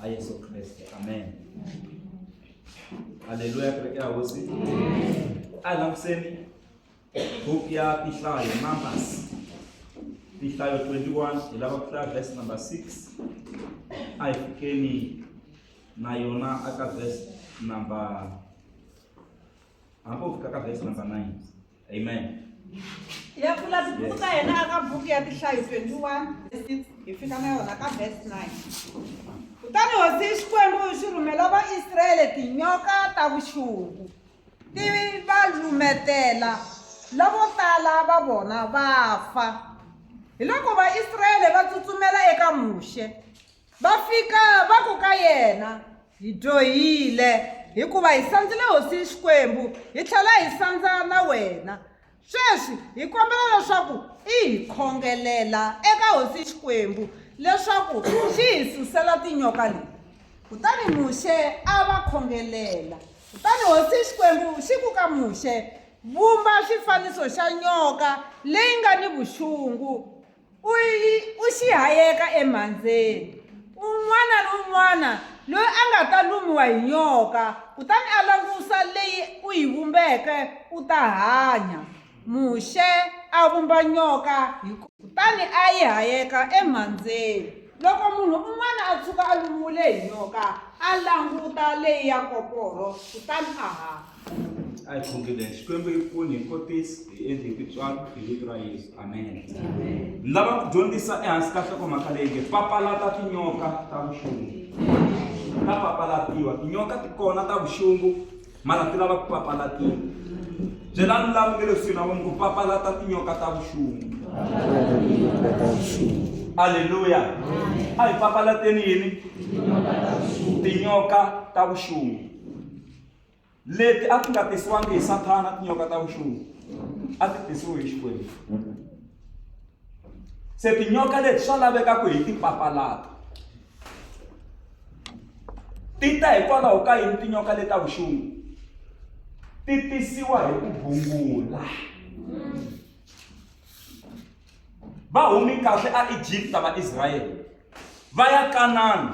a Yesu Kreste amen haleluya kereke ya hosi a langutiseni book ya tihlayo numbers tihlayo 21 hi lava ku hlaya verse number 6 a hi fikeni na yona aka verse number hambi u fika ka verse number 9 amen ya pfula tibuku ta yena aka buku ya tihlayo 21 hi fika na yona ka verse 9 kutani hosi xikwembu xi rhumela vaisrayele tinyoka ta vuxungu ti va lumetela lavo tala va vona va fa hi loko vaisrayele va tsutsumela eka muxe Va fika va ku ka yena, Hi dyohile, hikuva hi sandzile hosini Xikwembu, hi tlhela hi sandza na wena. Sweswi hi kombela leswaku i hi khongelela eka hosi Xikwembu leswaku xi hi susela tinyoka leti. Kutani Muxe a va khongelela. Kutani hosi Xikwembu xi ku ka Muxe, Vumba xifaniso xa nyoka leyi nga ni vuxungu, u yi u xihayeka emhandzeni un'wana ni un'wana loyi a nga ta lumiwa hi nyoka kutani a langusa leyi u yi vumbeke u ta hanya muxe a vumba nyoka hi kutani a yi hayeka emhandzeni loko munhu un'wana a tshuka a lumiwile hi nyoka a languta leyi ya koporo kutani a hanya a hi khongeleni xikwembu yi pfuni hi kotisi hi endli hi tintswalo hi vito ra yesu amen ni lava ku dyondzisa ehansi ka nhlokomhaka leyi nge papalata tinyoka ta vuxungu ta papalatiwa tinyoka ti kona ta vuxungu mara ti lava ku papalatiwa byelani lava nge leswi na vona ku papalata tinyoka ta vuxungu aleluya a hi papalateni yini tinyoka ta vuxungu leti a ti nga tisiwangi hi sathana tinyoka ta vuxungu a ti tisiwe hi xikwembu se tinyoka leti swa laveka ku hi ti papalata ti ta hikwalaho ka yini tinyoka leti ta vuxungu ti tisiwa hi ku bungula va humi kahle a egipta vaisrayele va ya kanana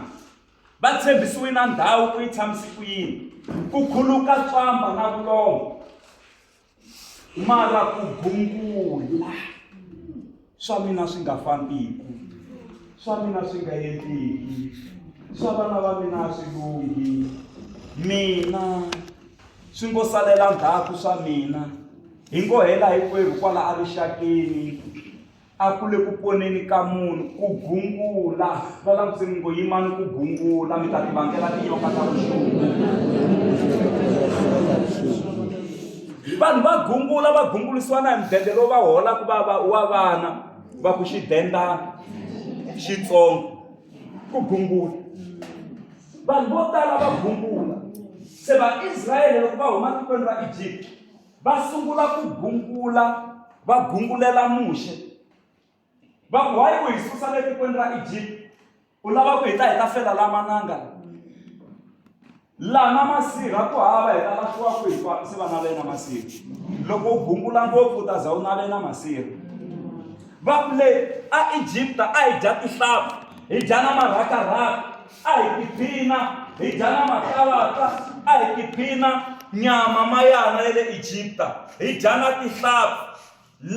Va tshembisiwe na ndhawu ku yi tshamisi ku yini ku khuluka tswamba na vulongo mara ku gungula swa mina swi nga fambiku swa mina swi nga endliki swa vana va mina a swi lunghi mina swi ngo salela ndzhaku swa mina hi ngo hela hinkwerhu kwala erixakeni a ku le ku poneni ka munhu ku gungula va langutiseni ngo yimani ku gungula mi ta ti vangela tinyoka ta vuxungu vanhu va gungula va gungulisiwa na hi mudende lowu va holaka va va wa vana va ku xidenda xitsongo ku gungula vanhu vo tala va gungula se vaisrayele loko va huma tikweni ra egypta va sungula ku gungula va gungulela muxe va ku hayi ku hi susa le tikweni ra egypt u lava ku hi ta hi ta fela la mananga lama masirha ku hava hi ta lahliwa ku hinkwaku se va navena masirha loko u gungula ngopfu u ta za u navena masirha va ku le a egypta a hi dya tihlampfi hi dya na marhakarhaka A hi tiphina hi dya na matalata, a hi tiphina nyama mayana ya le Egipta, hi dya na tihlampfi.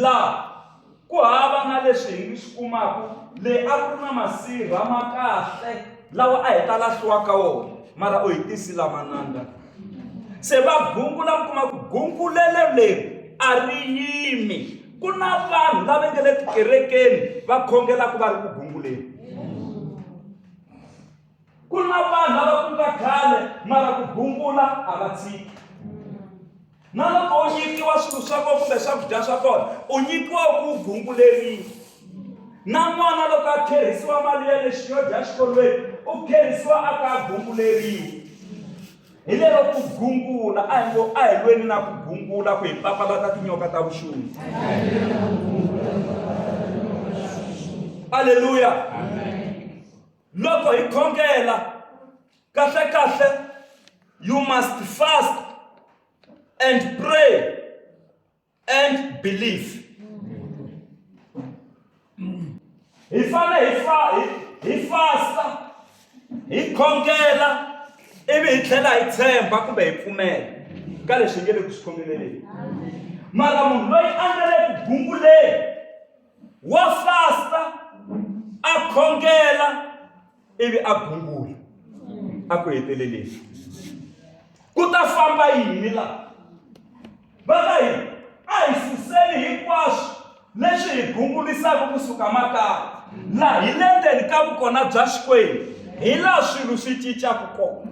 Laha ku hava na leswi hi swi kumaka, le a ku ri na masirha ma kahle lawa a hi ta lahliwa ka wona, mara u hi tisi lamananga. Se va gungula mi kuma ku gungulelo leri a ri yimi. Ku na vanhu lava nga le tikerekeni va khongelaka va ri ku gunguleni. ku na vanhu lava ku nga khale mara ku gungula a va tshiki na loko u nyikiwa swilo swa kona kumbe swakudya swa kona u nyikiwa ku gunguleriwa na n'wana loko a kherisiwa mali ya lexi yo dya xikolweni u kherisiwa a ka gunguleriwa hi lero ku gungula a hi ngo a hi lweni na ku gungula ku hi papalata tinyoka ta vuxungu aleluya loko hi khongela kahle kahle you must fast and pray and belief hi fane hi fa hi fasta hi khongela ivi hi tlhela hi tshemba kumbe hi pfumela ka leswi hi nge le ku swi khongeleleni mara munhu loyi a nga le ku gunguleni wa fasta a khongela ivi a gungula a ku heteleleni ku ta famba yini laha va ka yini a hi suseni hinkwaswo leswi hi gungulisaka kusuka makaya laha hi le ndzeni ka vukona bya xikwembu hi laha swilo swi cincaka kona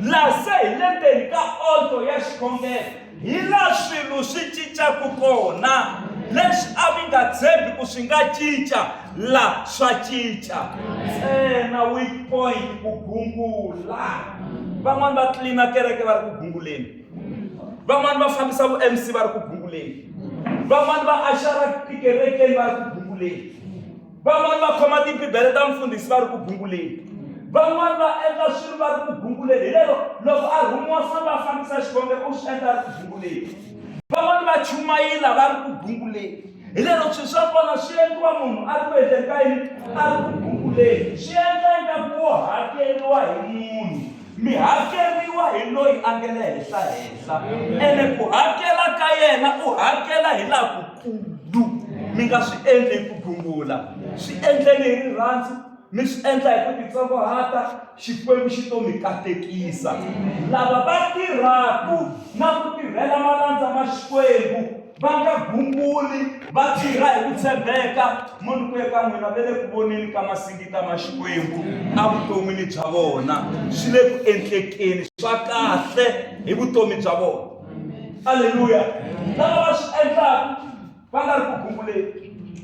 laha se hi le ndzeni ka oldo ya xikhongelo hi laha swilo swi cincaka kona leswi a mi nga tshembi ku swi nga cinca la swa cinca ntsena weak point ku gungula van'wani va tlilina kereke va ri ku gunguleni van'wani va fambisa vu mc va ri ku gunguleni van'wani va axara tikerekeni va ri ku gunguleni van'wani va khoma tibibele ta mfundhisi va ri ku gunguleni van'wani va endla swilo va ri ku gunguleni hi lero loko a rhumiwa se va fambisa xivonge u swi endla ri ku gunguleni van'wani va chumayila va ri ku gunguleni hi lero swilo swa kona swi endliwa munhu a ri ku endleni ka yini a ri ku gunguleni swi endla ingaku wo hakeriwa hi munhu Mi hakeriwa hi loyi a nge le henhla-henhla, ene ku hakela ka yena u hakela hi lakukulu. Mi nga swi endli hi ku gungula, swi endleni hi rirhandzu, mi swi endla hi ku titsongohata, Xikwembu xi to mi katekisa. Lava va tirhaku na ku tirhela malandza ma Xikwembu, va nga gunguli va tirha hi ku tshembeka mo ni ku eka n'wina ve le ku voneni ka masingita ma xikwembu evuton'wini bya vona swi le ku endlekeni swa kahle hi vutomi bya vona aleluya lava va swi endlaka va nga ri ku gunguleni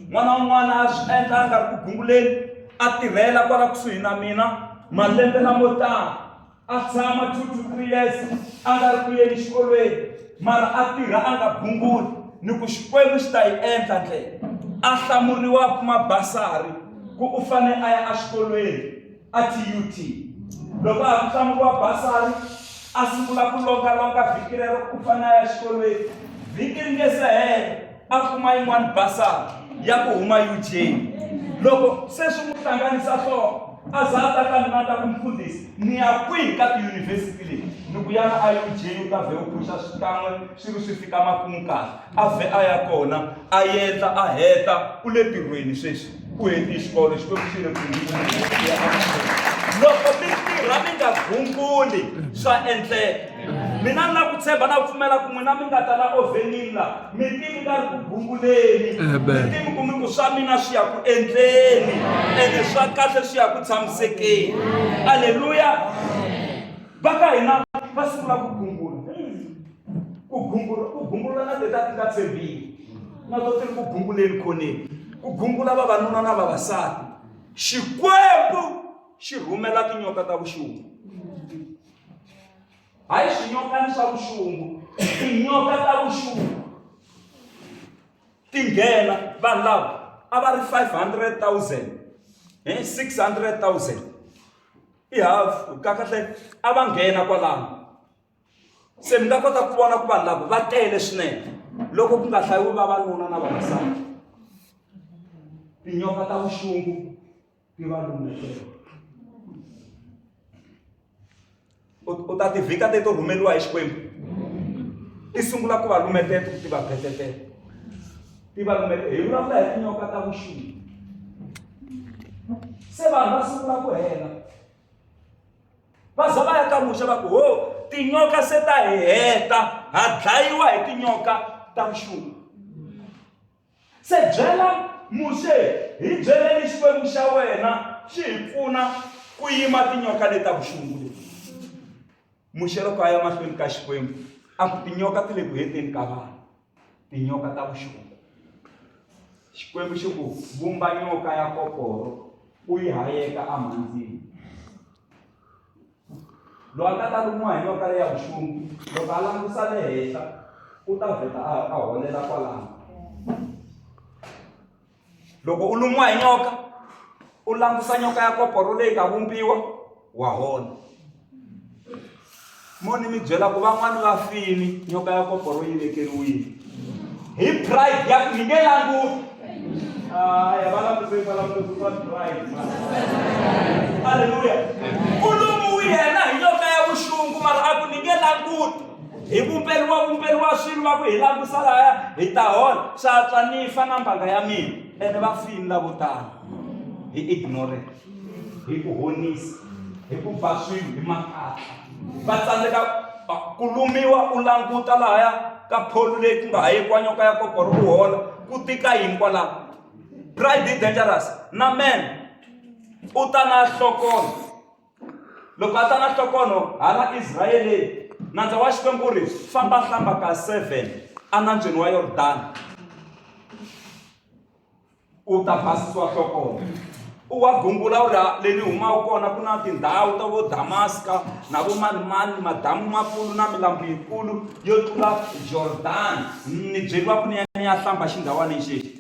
n'wana un'wana a swi endla a nga ri ku gunguleni a tirhela kwala kusuhi na mina malembe lamo tala a tshama two to three years a nga ri ku yeni xikolweni mara a tirha a nga bunguli ni ku xikwembu xi ta yi endla ndlela a hlamuriwa ku mabasari ku u fane a ya exikolweni a tut loko a ku hlamuriwa basari a sungula ku longalonga vhiki rero ku fane a ya xikolweni vhiki ri nge se hela a kuma yin'wana basari ya ku huma eugeni loko se swi n'wi hlanganisa hloko a za a ta ka mina ta ku mfundhisi ni ya kwihi ka tiyunivhesiti leti ni ku yana a eugeni u ta vhe u phuxa swikan'we swi ri swi fika makumu kahle a vhe a ya kona a yendla a heta u le tirhweni sweswi ku heti xikolo xi ve ku xi ri loko mi tirha mi nga gunguli swa endleka mina ni na ku tshemba na pfumela ku n'wina mi nga ta la ovenini la mi tivi nga ri ku gunguleni mi tivi ku mi ku swa mina swi ya ku endleni ene swa kahle swi ya ku tshamisekeni aleluya va ka hina va sungula ku gungula ku gungula ku gungula na teta ti nga tshembini na to ti ri ku gunguleni khoneni ku gungula vavanuna na vavasati xikwembu xi rhumela tinyoka ta vuxungu hayi swinyokani swa vuxungu tinyoka ta vuxungu ti nghena vanhu lava a va ri 500 000 hi 600 000 i half kakahle a va nghena kwalano se mi nga kota ku vona ku vanhu lava va tele swinene loko ku nga hlayiwi vavanuna na vavasati tinyoka ta vuxungu ti va lumekela u ta tivhika te to rhumeriwa hi xikwembu ti sungula ku va lumetete ku ti va phetetela ti va lumete hi vulavula hi tinyoka ta vuxungu se vanhu va sungula ku hela va za va ya ka muxa va ku ho tinyoka se ta hi heta ha dlayiwa hi tinyoka ta vuxungu se byela muxe hi byeleni xikwembu xa wena xi hi pfuna ku yima tinyoka leti ta vuxungu leti muxe loko a ya mahlweni ka xikwembu a ku tinyoka ti le ku heteni ka vanhu tinyoka ta vuxungu xikwembu xi ku vumba nyoka ya koporo u yi hayeka amhandzini loyi a nga ta lumiwa hi nyoka leya vuxungu loko a langusa le henhla u ta vheta a holela kwalano loko u lumiwa hi nyoka u langusa nyoka ya koporo leyi nga vumbiwa wa hona mo ni mi byela ku van'wani va fini nyoka ya koporo yi vekeriwile hi pride ya ku yi nge languti aya va langutei va languti va pride halleluya u lumiwile yena hi nyoka ya vuxungu mara a ku ni nge languti hi vumperiwavumperi wa swilo va ku hi langusa laya hi ta hola swa tswa ni fa na mbanga ya mina ene va fini lavo tala hi ignorance hi ku honisa hi ku ba swilo hi makatla va tsandzeka ku lumiwa u languta lahaya ka pholu leyi ku nga ha yikwanyoka ya kokoro u hola ku tika yini kwalaho pride dangerous na man u ta na hlokolo loko a ta na nhlokono hala israyeleni nandza wa xikwembu u ri famba hlamba ka seven enambyeni wa yordani u ta basisiwa nhlokono u wa gungula u ri le ni humaka kona ku na tindhawu ta vo damaska na vo manimani madamu makulu na milambu yikulu yo tlula jordani ni byeriwa ku ni ya ni ya hlamba xindhawaneni xexi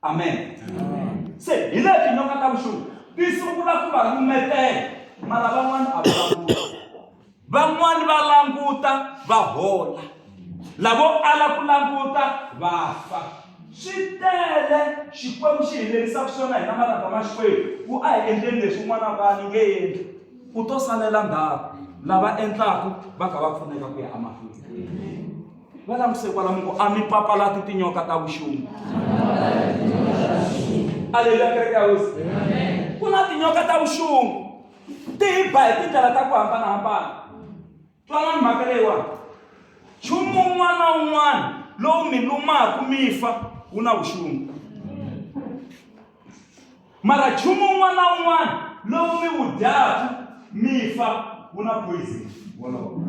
amen se hi le tinyoka ta vuxungu ti sungula ku va lumetela mara van'wana a va van'wana va languta va hola lavo ala ku languta va fa swi tele xikwembu xi hi lerisaka swona hina malanga ma xikwembu ku a hi endleni leswi un'wana va ni nge endli u to salela ndhawu lava endlaka va kha va pfuneka ku ya emahlweni va languse kwalamu ku a mi papalati tinyoka ta vuxungu aleluya kereke ya hosi ku na tinyoka ta vuxungu ti hi ba hi tindlela ta ku hambanahambana twanani mhaka leyiwani nchumu un'wana na un'wana lowu mi lumaku mi fa wu na vuxungu mara nchumu un'wana na un'wana lowu mi wu dyaku mi fa wu na poison wolowo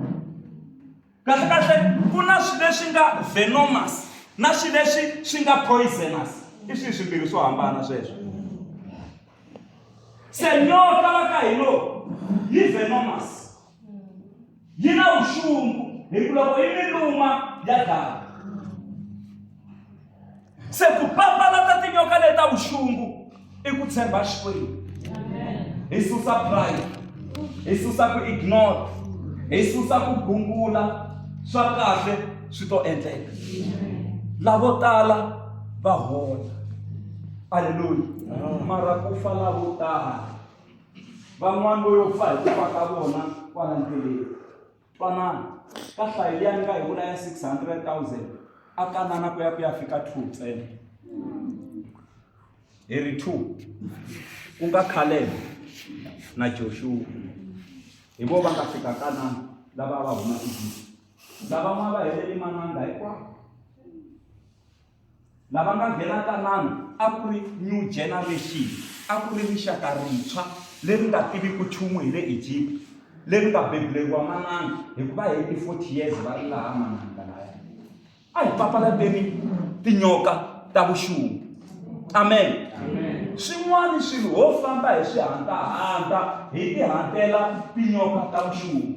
Kahle-kahle ku na swi leswi nga venomous na swi leswi swi nga poisonous. I swihi swimbirhi swo hambana sweswo? Se nyoka la ka hilo yi venomous. Yi na vuxungu hi ku loko yi mi luma ya dlaya. se ku papalata tinyoka leta vuxungu i ku tshemba xikwembu hi susa pride hi susa ku ignore hi susa ku gungula swa kahle swi to endleka lavo tala va hola aleluya mara ku fa lavo tala van'wana vo yo fa hi ku fa ka vona kwala ndleleni twanana ka hlayi liya ni nga hi vula ya 600 000 a kanana ku ya ku ya fika two ntsena hi ri two ku nga khalele na joshuwa hi vo va nga fika kanana lava va huma egipta lavan'wana va helele mananga hinkwawo lava nga nghenaka nanu a ku ri new generation a ku ri rixaka rintshwa leri nga tiviki nchumu hi le egypt leri nga bebuleriwa manana hikuva hi ti-forty years va ri laha mananga laya a hi papalateni tinyoka ta vuxungu amen swin'wana swilo ho famba hi swihantahanta hi tihantela tinyoka ta vuxungu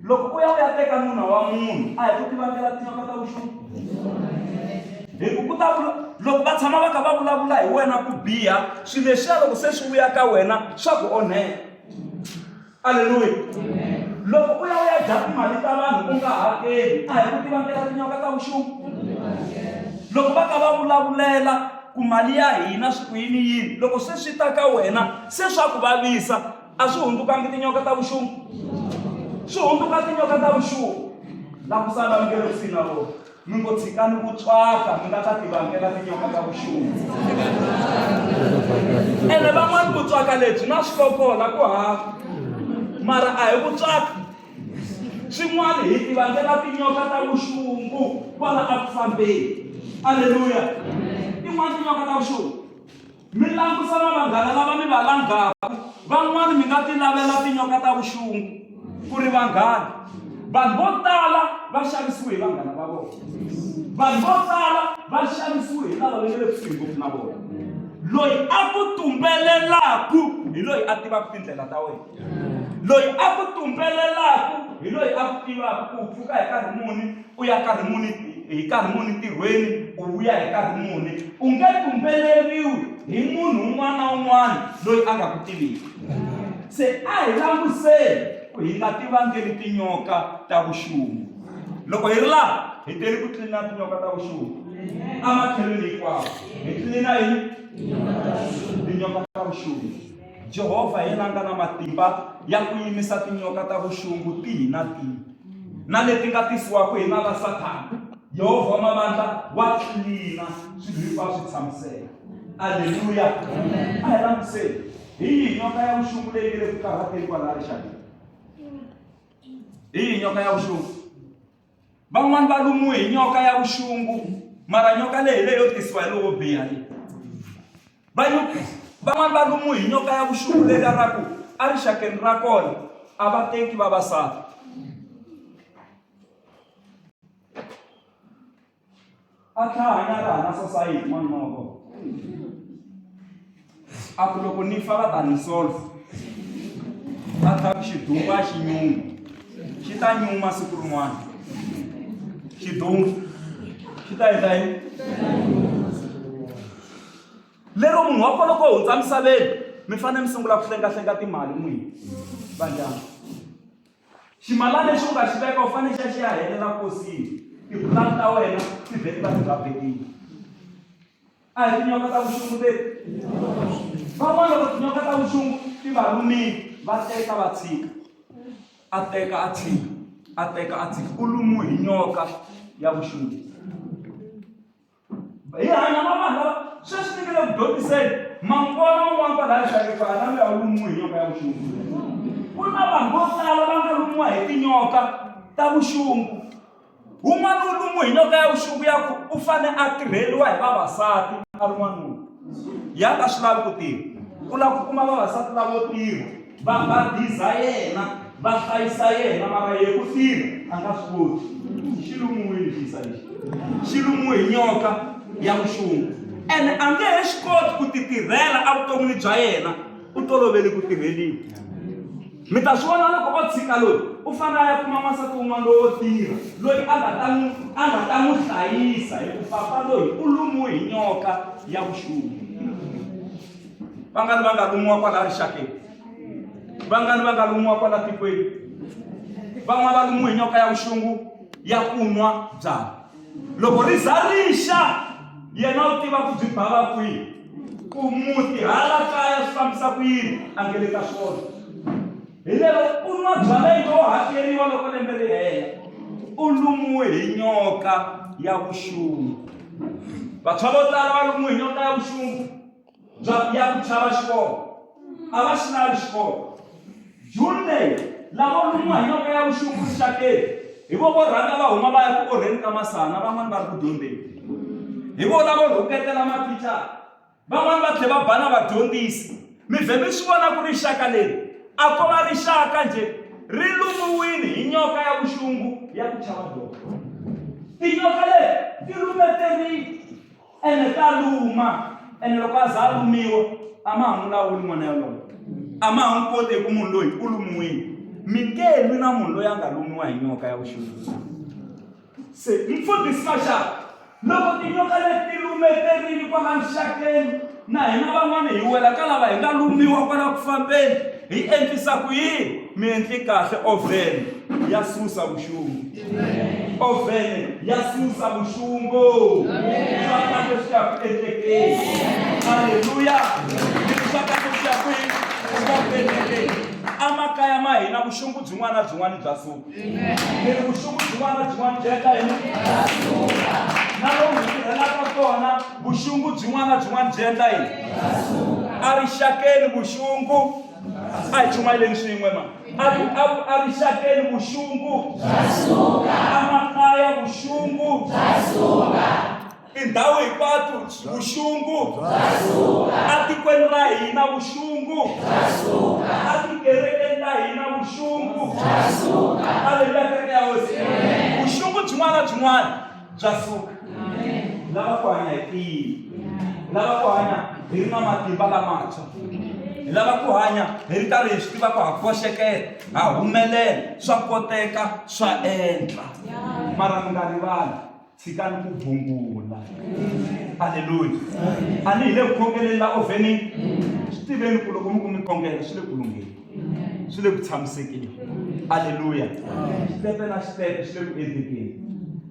loko u ya u ya teka nuna wa munhu a hi ku tivangela tinyoka ta vuxungu hi ku ku ta vula loko va tshama va kha va vulavula hi wena ku biha swilo leswiya loko se swi vuya ka wena swa ku onhela aleluya loko u ya u ya dya timali ta vanhu u nga hakeli a hi ku tivangela tinyoka ta vuxungu loko va ka va vulavulela ku mali ya hina swi ku yini yini loko se swi ta ka wena se swa ku vavisa a swi hundzukangi tinyoka ta vuxungu swi hundzuka tinyoka ta vuxungu la ku sala mi nge le kusini na vona mi ngo tshikani ku tswaka mi nga ta tivangela tinyoka ta vuxungu ene van'wani ku tswaka lebyi na swi kokola ku hava mara a hi ku tswaka swin'wana hi tivangela tinyoka ta vuxungu kwala a ku fambeni aleluya tin'wana tinyoka ta vuxungu Mi langusa na vanghana lava mi va langaka. Van'wana mi nga ti lavela tinyoka ta vuxungu ku ri vanghana. Vanhu vo tala va xavisiwe hi vanghana va vona. Vanhu vo tala va xavisiwe hi lava va nga le kusuhi ngopfu na vona. Loyi a ku tumbelelaku hi loyi a tivaka tindlela ta wena. Loyi a ku tumbelelaku hi loyi a ku tivaka ku u pfuka hi nkarhi muni, u ya nkarhi muni hi nkarhi muni ntirhweni u vuya hi nkarhi muni u nge tumbeleriwi hi munhu un'wana na un'wana loyi a nga ku tiviki se a hi languseni ku hi nga tivangeli tinyoka ta vuxungu loko hi ri laha hi teli ku tlilina tinyoka ta vuxungu ematlhelweni hinkwawo hi tlilina yini tinyoka ta vuxungu jehovha hi yena a nga na matimba ya ku yimisa tinyoka ta vuxungu tihi na tihi na leti nga tisiwaka hi nala sathana yehovha wa mavandla wa tlilina swilo hinkwavo swi tshamiseka aleluya a hi langutiseni hi yihi nyoka ya vuxungu leyi nge le ku karhateni kwalaha rixakeni hi yihi nyoka ya vuxungu van'wani va lumiwe hi nyoka ya vuxungu mara nyoka leyi leyo tisiwa hi lowo biha leyi Vanyukhris van'wana va lumiwe hi nyoka ya vuxungu leri ra ku erixakeni ra kona a va teki vavasati a tlhahanya ri hana sosayiti n'wanuna wa kona a ku loko ni fa va ta ni solve a tlha ku xidumbu a xi nyungu xi ta nyuma siku rin'wana xidumbu xi ta endla yini lero munhu wa kona ku hundza misaveni mi fanele mi sungula ku hlengahlenga timali n'wini vandyangu ximalana lexi u nga xi veka u fanele xi ya xi ya helela kosini tipulani ta wena ti vheti va ti nga vekini a hi tinyoka ta vuxungu leti van'wana loko tinyoka ta vuxungu ti va lumile va teka va tshika a teka a tshika a teka a tshika u lumiwe hi nyoka ya vuxungu hi hanya na vanhu lava sweswi ni nge le ku dyondziseni mangona un'wana kwalaya xalekwana na loyi a lumiwe hi nyoka ya vuxungu ku na vanhu vo tala va nga lumiwa hi tinyoka ta vuxungu wun'wana wu lumiwe hi nyoka ya vuxungu ya ku u fane a tirheriwa hi vavasati a ri n'wanuna ya nga swi lavi ku tirha ku lava ku kuma vavasati lavo tirha va va biza yena va hlayisa yena mara ye ku tirha a nga swi koti xi lumiwile xisa lexi xi lumiwe hi nyoka ya vuxungu ene a nge he swi koti ku titirhela evuton'wini bya yena u tolovele ku tirheliwa Mi ta swi vona loko o tshika loyi u fanele a ya kuma n'wansati wun'wana lowo tirha loyi a nga ta n'wi a nga ta n'wi hlayisa hi ku papa loyi u lumiwe hi nyoka ya vuxungu vangani va nga lumiwa kwala rixakeni vangani va nga lumiwa kwala tikweni van'wana va lumiwe hi nyoka ya vuxungu ya kunwa byala loko ri za rixa yena u tiva ku byi bava kwihi ku muti hala kaya swi fambisa ku yini a nge le ka swona hi lero u nwa byala yi to hakeriwa loko lembe ri hela u lumiwe hi nyoka ya vuxungu vantshwa vo tala va lumiwe hi nyoka ya vuxungu bya ya ku chava xikolo a va xilali xikolo. June leyi, lavo lumiwa hi nyoka ya vuxungu rixakeni hi vo vo rhanga va huma va ya ku orheni ka masana na van'wana va ri ku dyondzeni. Hi vona vo rhuketela mathicara van'wana va tlhe va bana vadyondzisi mi vhe mi swi vona ku ri xaka leri a ko va rixaka njhe ri lumiwini hi nyoka ya vuxungu ya ku chava doko tinyoka leti ti lumeterile ene ta luma ene loko a za a lumiwa a ma ha n'wi lawuli n'wana yalowo a ma ha n'wi koti hi ku munhu loyi u lumiwile mi nge lwi na munhu loyi a nga lumiwa hi nyoka ya vuxungu se mfundhisi maxaka loko tinyoka leti lumeterile kwala mixakeni na hina van'wana hi wela ka lava hi nga lumiwa kwala ku fambeni hi endlisa ku yini mi endli kahle ovheni ya susa vuxungu ovhene ya susa vuxungu swaka leswi ya ku endlekeni halleluya swaka leswi ya ku endlekeni emakaya ma hina vuxungu byin'wana na byin'wana bya suka ni ri vuxungu byin'wana na byin'wana byi endla yini na lomu hi tirhelaka kona vuxungu byin'wana na byin'wana byi endla yini erixakeni vuxungu a hi chumayeleni swin'we ma arixakeni vuxungu amakaya vuxungu tindhawu hinkwato vuxungu atikweni ra hina vuxungu atikerekeni ta hina vuxungu aleluya kereke ya hosi vuxungu byin'wana na byin'wana bya suka lava ku hanya hi tiyini lava ku hanya hi ri na matimba lamantshwa hi lava ku hanya hi ri karhi hi swi tiva ku ha koxekela ha humelela swa koteka swa endla mara mi nga rivali tshikani ku bungula halleluya a ni hi le ku khongeleni la ovhenini swi tiveni ku loko mi ku mi khongela swi le ku lungheni swi le ku tshamisekeni aleluya xitempe na xitempe swi le ku endlekeni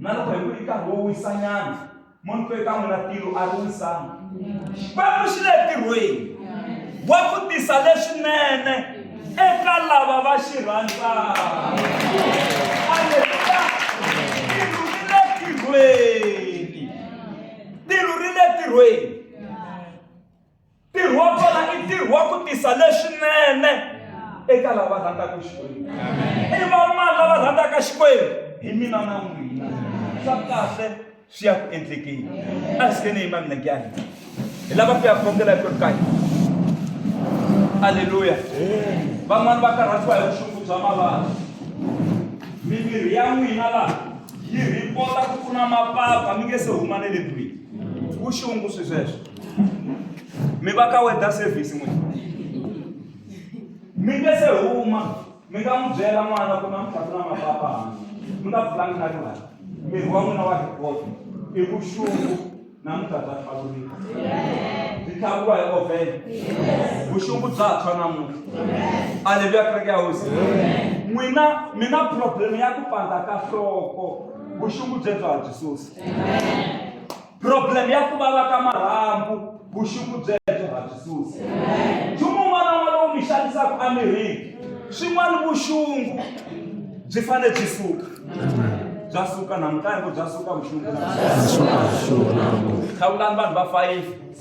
na loko hi ku i nkarhi wo wisanyana munhu twe ka n'wina tilo a ri wisanga xikwembu xi le ntirhweni wa ku tisa leswinene eka lava va xi rhandzaka aleluya tilo ri le ntirhweni tilo ri le ntirhweni ntirho wa vona i ntirho wa ku tisa leswinene eka lava rhandzaka xikwembu i vamani lava rhandzaka xikwembu hi mina na n'wina swa kahle swi ya ku endlekeni a hi sikeni yima mina nkyani hi lava ku ya khongela hi ku ri kayi aleluya van'wani va karhatiwa hi vuxungu bya mavabyi mimiri ya n'wina laha yi rhipota ku ku na mapapa mi nge se huma ne le ndlwini vuxungu swi sweswo mi va ka weather service n'wina mi nge se huma mi nga n'wi byela n'wana ku namuntlha ku na mapapa hansi mi nga pfulangi na riwani miri wa n'wina wa ripoti i vuxungu namuntlha bya tlhavulika byi tlhavuriwa hi ovhele vuxungu bya tshwa namuntlha aleluya kereke ya hosi n'wina mi na problem ya ku pandza ka hloko vuxungu byebyo a byi susi problem ya ku vava ka marhambu vuxungu byebyo ha byi susi nchumu un'wana un'wana lowu mi xanisaka emirini swin'wana vuxungu byi fanele byi suka bya suka namuhla hi ku bya suka vuxungu hlawulani vanhu va fayifi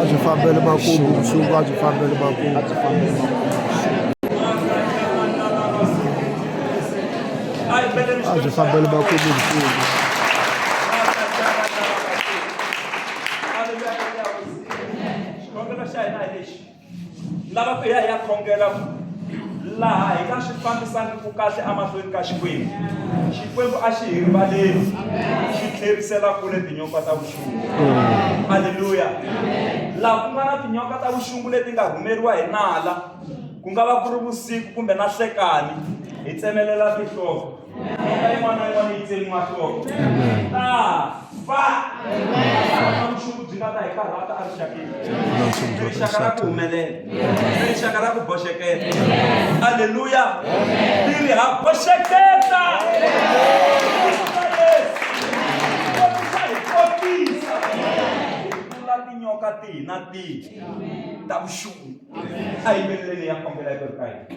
a swi fambele makumu mfumo a swi fambele makumu a swi fambele makumu a swi fambele makumu mfumo lava ku ya ya khongela laha hi nga swi fambisangiku kahle emahlweni ka xikwembu xikwembu a xi hi rivaleli xi tlherisela kule tinyoka ta vuxungu halleluya laha ku nga na tinyoka ta vuxungu leti nga rhumeriwa hi nala ku nga va ku ri vusiku kumbe na hlekani hi tsemelela tinhloko rixaka ra ku humelela rixaka ra ku boxeketa aleluya tiri ha boxeketa tinyoka tihi na tihi ta vuxungu a yimbeleleni ya kombela yi ri ka hina